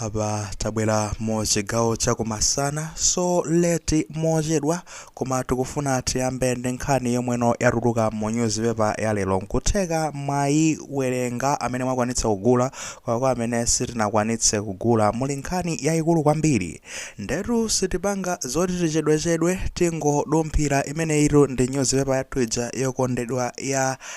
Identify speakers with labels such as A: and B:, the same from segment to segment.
A: Apa tabwera mu chigawo chakumasana so late mochedwa koma tikufuna tiyambe ndi nkhani yomweno yatuluka mu newspaper ya lero nkutheka mwayiwerenga amene mwakwanitsa kugula koma kwa amene sitinakwanitse kugula muli nkhani yayikulu kwambiri ndetu sitipanga zoti tichedwechedwe tingodumphira imeneyitu ndi newspaper yathu ija yokondedwa ya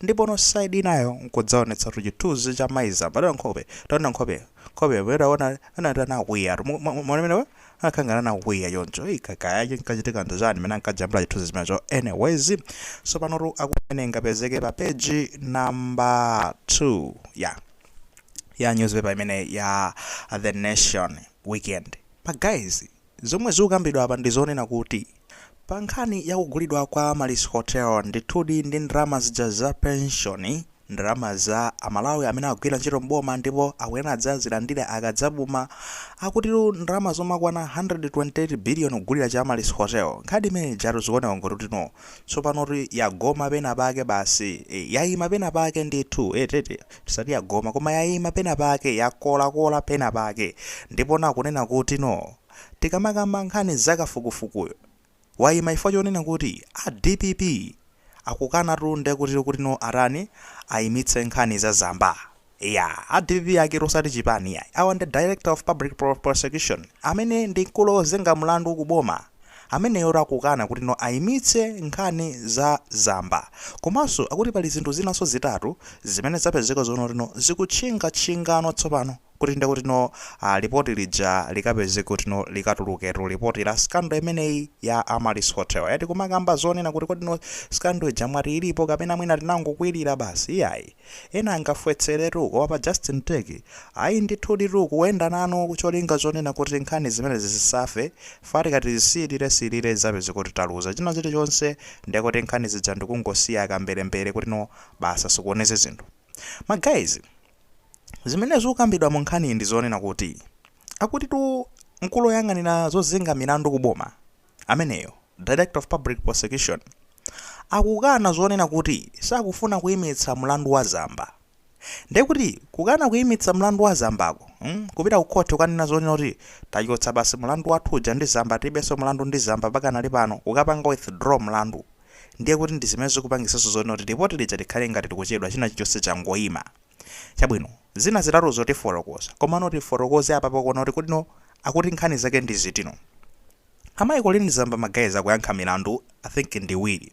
A: ndipo no side inayo nkudzaonetsa tu chithunzi cha maiza mbale nkhope taona nkhope nkhope yomwe taona anati anakwiya mwanamenewe akhangana nakwiya choncho kaya chinkachitika ndi chani mene ankajambula chithunzi chimenecho anyways so panotu nkumene ingapezeke pa page number 2 ya ya newspaper imene ya the nation weekend pa guys Zomwe zikukambidwa apa ndi zonena kuti pa nkhani ya kugulidwa kwa Amaryllis Hotel ndithudi ndi ndalama zija za penshoni, ndalama za a Malawi amene agwira ntchito m'boma ndipo akuyenera adzazilandire akadzapuma. Akuti ndalama zomakwana 128 billion kugulira chi Amaryllis Hotel. Nkhani imene ijatu zikuoneka ngoti kuti no, tsopanotu yagoma pena pake basi, eh, yaima pena pake ndithu, eti, eti. Tisati yagoma, koma yaima penapake, yakolakola penapake. Ndipo na kunena kuti, no. Tikamakamba nkhani za kafukufukuyu, waima chifukwa chonena kuti a dpp akukanatu nde kuti kuti no atani, aimitse nkhani za Zamba. Eya, a dpp aketu osati chipani iyayi. Awa ndi Director of Public Prosecution, amene ndi mkulu ozenga mlandu ku boma. Ameneyotu akukana kuti no ayimitse nkhani za Zamba. Komanso akuti pali zinthu zinanso zitatu zimene zapezeka zomwe kuti no zikutchinga tchinga no tsopano kuti nde kuti no lipoti lija likapezeke kuti no likatuluketu lipoti la scandal imeneyi ya Amaryllis Hotel. Eti kumakamba zonena kuti kodi no scandal ija mwati ilipo kapena mwina tinangokwilira basi? Iyayi. Ena angafwetseretu, koma pa Justin Turkey, ayi ndithuditu kuenda nanu cholinga chonena kuti nkhani zimenezi zisafe, chifukwa tikati tisiilire siilire tidzapeze kuti taluza china chili chonse ndiye kuti nkhani zija ndikungosiya kamberembere kuti no basi zikuoneze zinthu. Ma guys, zimene zikukambidwa mu nkhaniyi ndi zonena kuti akutitu mkulu oyang'anira zozenga milandu ku boma ameneyo, Director of Public Prosecution, akukana zonena kuti sakufuna kuimitsa mlandu wa Zamba. Ndiye kuti kukana kuimitsa mlandu wa Zambako, mm, kupita ku court kukanena zonena kuti tachotsa basi mlandu wathu uja ndi Zamba tilibenso mlandu ndi Zamba pakanali pano, kukapanga withdraw mlandu. Ndiye kuti ndi zimene zikupangisanso zonena kuti report lija likhale ngati tikuchedwa china chilichonse changoima. Chabwino, zina zitatuzo tifotokoza. Komano tifotokoze apapa kuona kuti kodino akuti nkhani zake ndi zitino. Amayi Colleen Zamba ma guys akuyankha milandu I think ndi iwiri.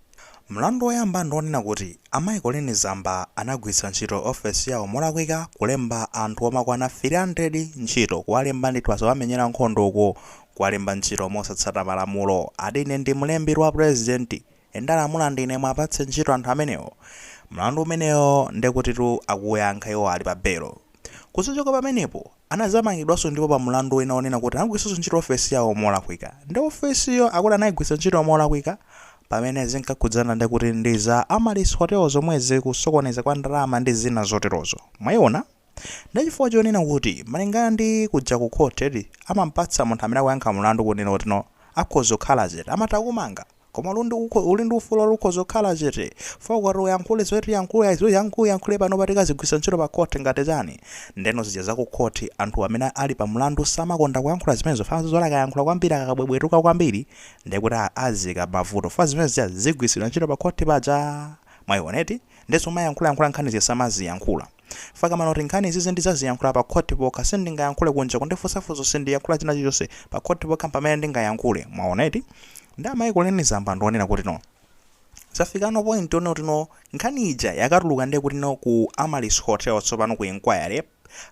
A: Mlandu woyamba ndi wonena kuti amayi Colleen Zamba anagwiritsa ntchito office yawo molakwika kulemba anthu omakwana 300 ntchito, kuwalemba ndithu asawamenyera nkhondo uko, kuwalemba ntchito mosatsata malamulo, ati ine ndi mlembi wa president and ndalamula ndine muwapatse ntchito anthu amenewo. Mlandu umenewo ndekutitu akuwuyankha iwo ali pa belo. Kuzachoka pamenepo, anazamangidwanso ndipo pa mlandu wina onena kuti anagwiritsanso ntchito ofesi yawo molakwika nde ofesiyo akuti anayigwiritsa ntchito molakwika pamene zinkakhudzana ndekuti ndi za Amaryllis Hotel zomwezi kusokoneza kwa ndalama ndi zina zoterozo mwayiona nde chifukwa chonena kuti malingana ndi kuja ku court amampatsa munthu amene akuyankha mlandu kunena kuti no akhoza kukhala chete amatha kukumanga Koma uli ndi ufulu oti ukhoza kukhala chete. Fa ukati uyankhule zimene tiyankhula izi uyank uyankhule panopa tikazigwiritsa ntchito pa court ngati chani. Ndeno zija za ku court anthu amene ali pa mlandu samakonda kuyankhula zimenezo fa amaziwa kuti akayankhula kwambiri akakabwebwetuka kwambiri ndekuti aziika m'mavuto fa zimene zija zigwiritsidwa ntchito pa court paja. Mwayiona eti? Nde zomayankhula yankhula nkhani zija samaziyankhula. Fa amanena kuti nkhani izizi ndizaziyankhula pa court pokha sindingayankhule kunja kundifunsa funso sindiyankhula china chilichonse pa court pokha mpamene ndingayankhule mwaona eti nde amayi Colleen Zamba ndionena kuti no zafikano point yonena kuti no nkhani ija yakatuluka ndekuti no ku Amaryllis Hotel tsopano ku inquiry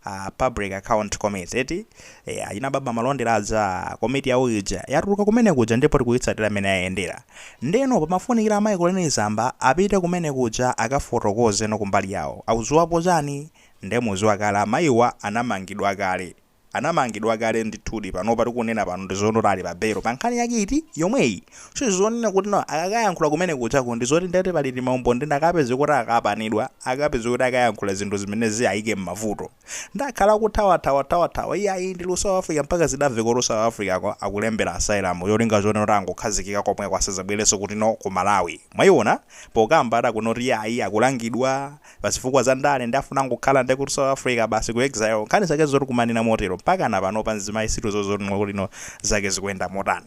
A: uh, public account committee eti e, achina baba malondera aja komiti yawo ija yatuluka kumene kuja ndipo ikuyitsatira amene ayendera ndeno pamafunikira amayi Colleen Zamba apite kumene kuja akafotokoze no kumbali yawo akuziwapo chani nde muziwa kale amayiwa anamangidwa kale anamangidwa kale ndithudi panopa tikunena pano ndizonoti ali pabelo pa nkhani yake iti yomweyi sizonena kuti no akakayankhula kumene kujako ndizoti ndekuti pali timaumboni nde akapeze kuti akapanidwa akapeze kuti akayankhula zinthu zimene ziwayike m'mavuto Nde akhala akuthawathawathawa iyayi ndili ku South Africa mpaka zidamveka kuti ku South Africa ko akulembera asylum cholinga chonena kuti angokhazikika komweko asazabwerenso kutino ku Malawi mwaiona pokamba ata kunoti iyayi akulangidwa pa zifukwa za ndale nde afuna angokhala ndekuti ku South Africa basi ku exile nkhani zake zotikumanena motero mpakana panopa mzimayi sitikuziwa zotino kutino zake zikuyenda motani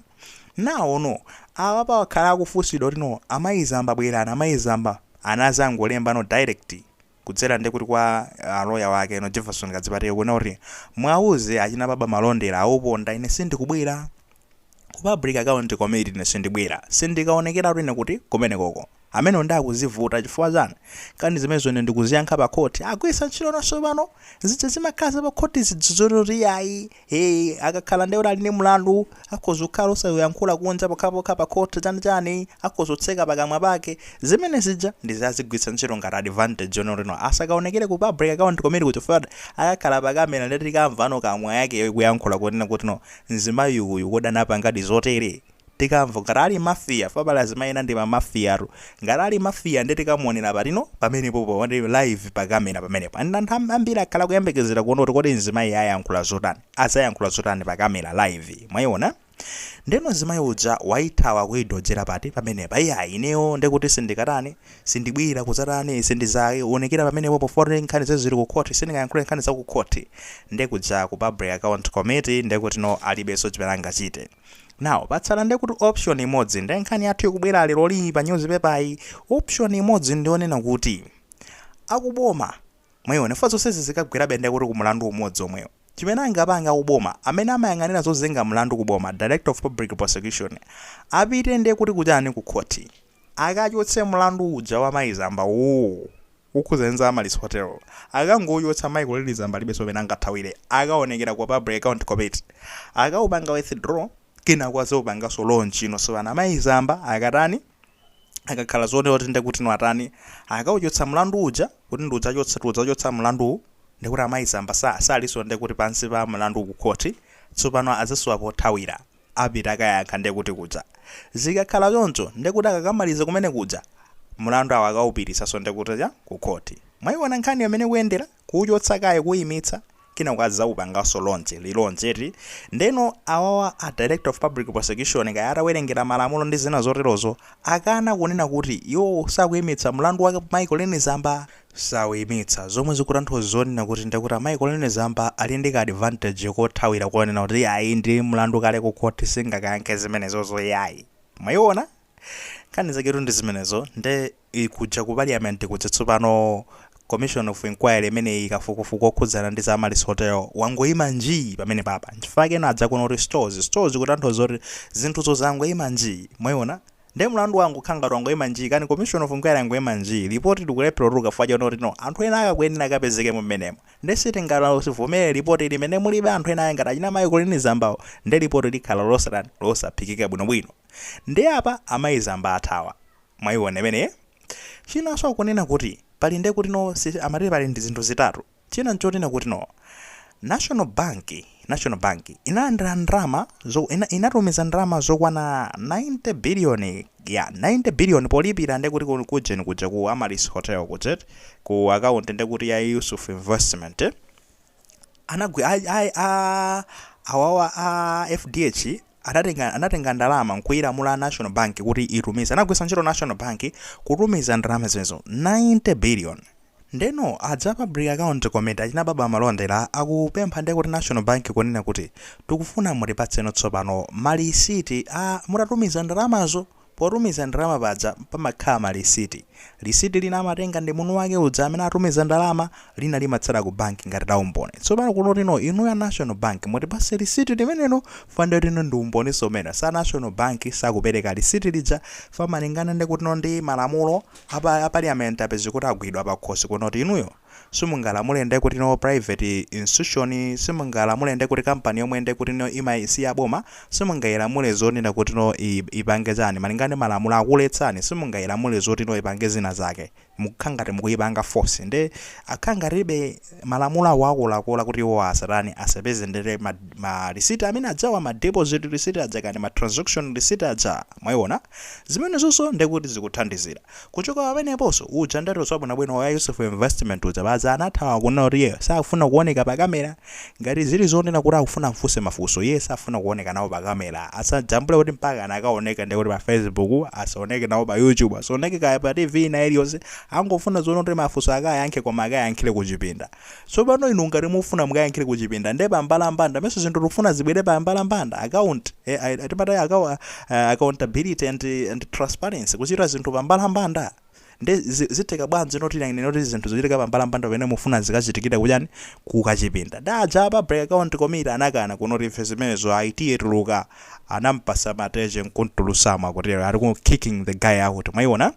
A: naono apapa akhala akufunsidwa kutino amayi zamba bwerani amayi zamba anazangolembano direct kudzera nde kuti kwa a lawyer wake no Jefferson Kadzipatike kunena kuti muwauze achina Baba Malondera awuponda ine sindikubwera Ku public account committee ine sindibwera sindikaonekeratu ine kuti kumenekoko amenewo nde akuzivuta chifukwa chani nkhani zimenezo ine ndikuziyankha pa khoti agwiritsa ntchito nawonso pano zija zimakhala za pa khoti zija zoti iyayi Hey, akakhala nde kuti ali ndi mlandu akhoza kukhala osauyankhula kunja pokhapokha pa court chani chani akhoza kutseka pakamwa pake zimene zija ndizi azigwiritsa ntchito ngati advantage yonena kuti no asakaonekere ku public account committee ku chifukwa kuti akakhala pa kamera nde tikamvano kamwa yake ikuyankhula kunena kuti no mzimayi uyu kodi anapangadi zotere tikamva ngati ali mafia fabale azimayenda ndi ma mafia tu ngati ali mafia nde tikamuonera patino pamenepopo ndi live pa kamera pamenepo and anthu am- ambiri akhala kuyembekezera kuona kuti kodi mzimayi ayankhula zotani azayankhula zotani pa kamera live mwayiona ndeno mzimayi uja wayithawa kuyidodzera pati pamenepa iyayi ineyo ndekuti sindikatani sindibwera kudzatani sindizaonekera pamenepo pofoti nkhanizi ziri ku khoti sindingayankhule nkhani za ku khoti ndekuja ku public account committee ndekuti no alibenso chimene angachite now patsala nde kuti option imodzi ndi nkhani yathu ikubwera leroli pa newspaper yi option imodzi ndi yonena kuti akuboma mwayiona fa zonsezi zikagwerabe nde kuti ku mlandu umodzi omwewo chimene angapange akuboma amene amayang'anira zozenga mlandu kuboma director of public prosecution apite nde kuti kuchani ku khoti Akachotse mlandu uja wa mayi Zamba woo! Wokhudzana ndi za Amaryllis Hotel. Akangouchotsa mayi Colleen Zamba alibenso kumene angathawire. Akaonekera kwa Public Account Committee. Akaupanga withdraw, kenako adzaupanganso launch. Inu sibana mayi Zamba akatani? Akakhala zotero kuti ndiye kutino atani? Akauchotsa mlandu uja, kuti ndiudzachotsa tiudzachotsa mlanduwu, ndiye kuti amayi Zamba sa salinso ndiye kuti pansi pa mlandu kukhoti. Tsopano adzasowa pothawira. apita akayankha nde kuti kuja. zikakhala choncho nde kuti akakamaliza kumene kuja mulandu awo akawupititsanso nde kuti cha ku khoti. mwayiwona nkhaniyo mmene ikuyendera? kuwuchotsa kaye kuwuyimitsa kenako adzawupanganso launch, relaunch eti? ndeno awawa a director of public prosecution kaya atawerengera malamulo ndi zina zoterozo akana kunena kuti iwowo sakuyimitsa mulandu wa mayi colleen zamba? sawuyimitsa. Zomwe zikutanthauz zonena kuti ndiye kuti amayi Colleen Zamba ali ndi ka advantage kothawira konena kuti iyayi ndi mlandu kale ku khoti singakayankhe zimenezozo iyayi. Mwayiwona? Nkhani zaketu ndi zimenezo nde kuja ku Parliament kuja tsopano Commission of Inquiry imeneyi kafukufuku wokhudzana ndi za Amaryllis Hotel wangoyima njii pamenepapa. Nchifukwa chake ena adza kuno kuti stalls stalls kutanthauza kuti zinthuzo zangoyima njii. Mwayiwona? Nde mlandu wangokhala ngati wangoima njii kani commission of inquiry yangoima njii report likulephera kutuluka fukwa choti oti no anthu enaake akuyenera akapezekemo mmenemo nde sitingalivomere report limene mulibe anthu enaake ngati achina mayi colleen zambawo nde report likhala losatani losaphikika bwinobwino nde apa amayi zamba athawa mwaiona imeneye chinanso akunena kuti pali nde kuti no si amati pali ndizinthu zitatu China nchoti nakuti no National Bank National Bank inalandira ndalama zo ina, inatumiza ndalama zokwana 90 billion ya 90 billion polipira ndekuti ku kujeni kuja ku Amaryllis Hotel kuja eti, ku account ndekuti ya Yusuf Investment anagwi a, a, a awawa a FDH adatenga anatenga ndalama nkuilamula national bank kuti itumize anagwisa ntchito national bank kutumiza ndalama zimenezo 90 billion ndeno aja a public account committee achina baba malondera akupempha nde kuti national bank kunena kuti tikufuna mutipatseno tsopano malisiti a mutatumiza ndalamazo Potumiza ndalama paja pamakhala ma lisiti. Lisiti lina amatenga ndi munthu wake uja amene atumiza ndalama, lina limatsala ku banki ngati la umboni. Tsopano kunoti no inuyo a National Bank mutipase lisiti limenelo fwa ndekuti no ndi umboninso umenewo. Sa National Bank sakupereka lisiti lija fwa malingana ndekuti no ndi malamulo a pa a Parliament apezeka kuti agwidwa pakhosi kunoti inuyo. simungalamule ndekuti no private institution simungalamule ndekuti company yomwe ndekuti no ima si ya boma simungailamule zonena kuti no i- ipange chani malinga ndi malamulo akuletsani simungailamule zoti no ipange zina zake mukukhala ngati mukuipanga force nde akhala ngati ibe malamulo awo akuwakola kuti iwo asatani asapeze ndere ma, ma receipt amene ajawa ma deposit receipt aja kani ma transaction receipt aja mwaiona zimenezonso ndekuti zikuthandizira Kuchoka pameneponso, uja anatulutsa wabwinobwino wa Yusuf Investment uja paja anathawa kunena kuti iyeyo sakufuna kuoneka pa camera. Ngati zili zonena kuti akufuna amfunse mafunso, iye safuna kuoneka nawo pa camera. Asajambule kuti mpakana akaoneka ndiye kuti pa Facebook, asaoneke nawo pa YouTube, asaoneke kaya pa TV ina iliyonse. Angofuna zonena kuti mafunso akayankhe koma akayankhire kuchipinda. Tsopano inu ngati mufuna mukayankhire kuchipinda nde pa mbalambanda mesa zinthu tikufuna zibwere pa mbalambanda account ai timati akawo accountability and and transparency kuchita zinthu pa mbalambanda nde zi zitheka bwanji noti nanga noti zinthu zochitika pa mbalambanda pamene mufuna zikachitikire kuchani ku kachipinda nde aja a public account committee anakana kunoti ife zimenezo ayi tiye tuluka anamupasa mateche nkumtulusamo akutero ali ku kicking the guy out mwaiona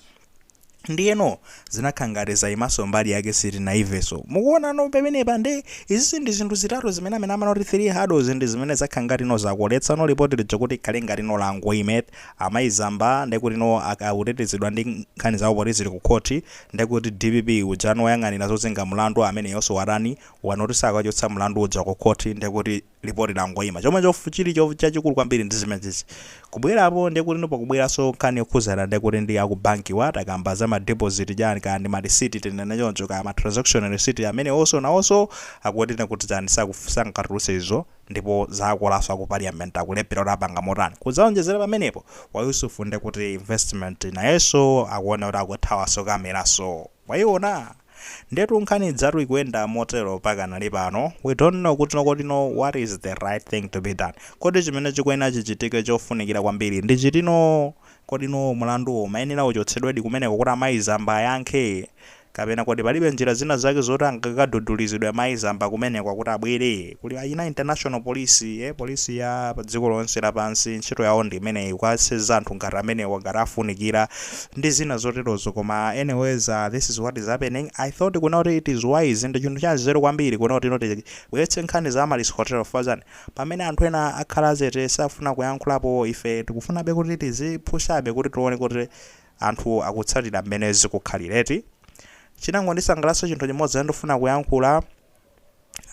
A: ndiyeno zinakhala ngati zayimanso mbali yake sitinaimvenso mukuonano pamenepa nde izizi ndi zinthu zitatu zimene amene amanoti 3 hurdles ndi zimene zakhala ngati no zakoletsa no lipoti lija kuti likhale ngati no langoima eti amayi zamba ndekuti no akutetezedwa ndi nkhani zawo poti zili kukhoti ndekuti dpp uja no woyang'anira zozenga mlandu ameneyonso watani wanoti sakachotsa mlandu uja kukhoti ndekuti lipoti langoima chomwecho chili cho chachikulu kwambiri ndi zimenezi kubwera apo ndiye kuti no pakubweranso nkhani yokhuzana ndiye kuti ndi aku banki wa takamba za ma deposit chani kaya ndi ma receipt tinene choncho kaya ma transaction receipt amene also nawonso akuti kuti chani sangatulutse izo ndipo zakolanso aku parliament akulephera kuti apanga motani kudzaonjezera pamenepo wa Yusuf ndiye kuti investment nayenso akuona kuti akuthawanso kameranso mwaiona Ndetu nkhani idzatu kuyenda motero pakanali pano, we don't know kuti kodi no what is the right thing to be done? Kodi chimene chikuyenera chichitike chofunikira kwambiri ndi chitino? Kodi no mlanduwo umayenera uchotsedwedi kumeneko kuti amayi Zamba ayankhe? Kapena kodi palibe njira zina zake zoti angakadudulizidwe amayi Zamba kumeneko kuti abwere? Kuli aina international police ee police ya dziko lonse la pansi ntchito yawo ndi imeneyi kukaseza anthu ngati amenewa ngati afunikira ndi zina zoterozo koma anyways uh, this is what is happening I thought kuona kuti it is wise ndi chinthu cha nzeru kwambiri kuona kuti inoti bweretse nkhani za Amaryllis Hotel chifukwa chani pamene anthu ena akhala chete sakufuna kuyankhulapo ife tikufunabe kuti tizipushabe kuti tione kuti anthu akutsatira mmene zikukhalira eti chinangondisangalatsa chinthu chimodzi ndifuna kuyankhula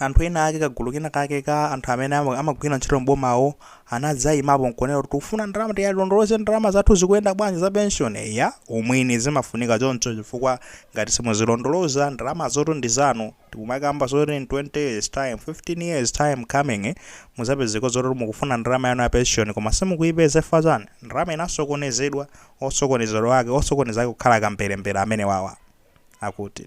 A: anthu ena ake kagulu kena kake ka anthu amene ama- amagwira ntchito m'bomawo anadzayimapo nkunena kuti tikufuna ndalama tiyilondoloze ndalama zathu zikuyenda bwanji za pension ya umwini zimafunika choncho chifukwa ngati simuzilondoloza ndalama zoti ndi zanu tikumakamba zoti in 20 years time 15 years time coming eh, muzapezeko zoti mukufuna ndalama yanu ya pension koma simukuyipeza chifukwa chani ndalama inasokonezedwa osokonezedwa ake osokoneza ake kukhala kamberembere amene wawa akuti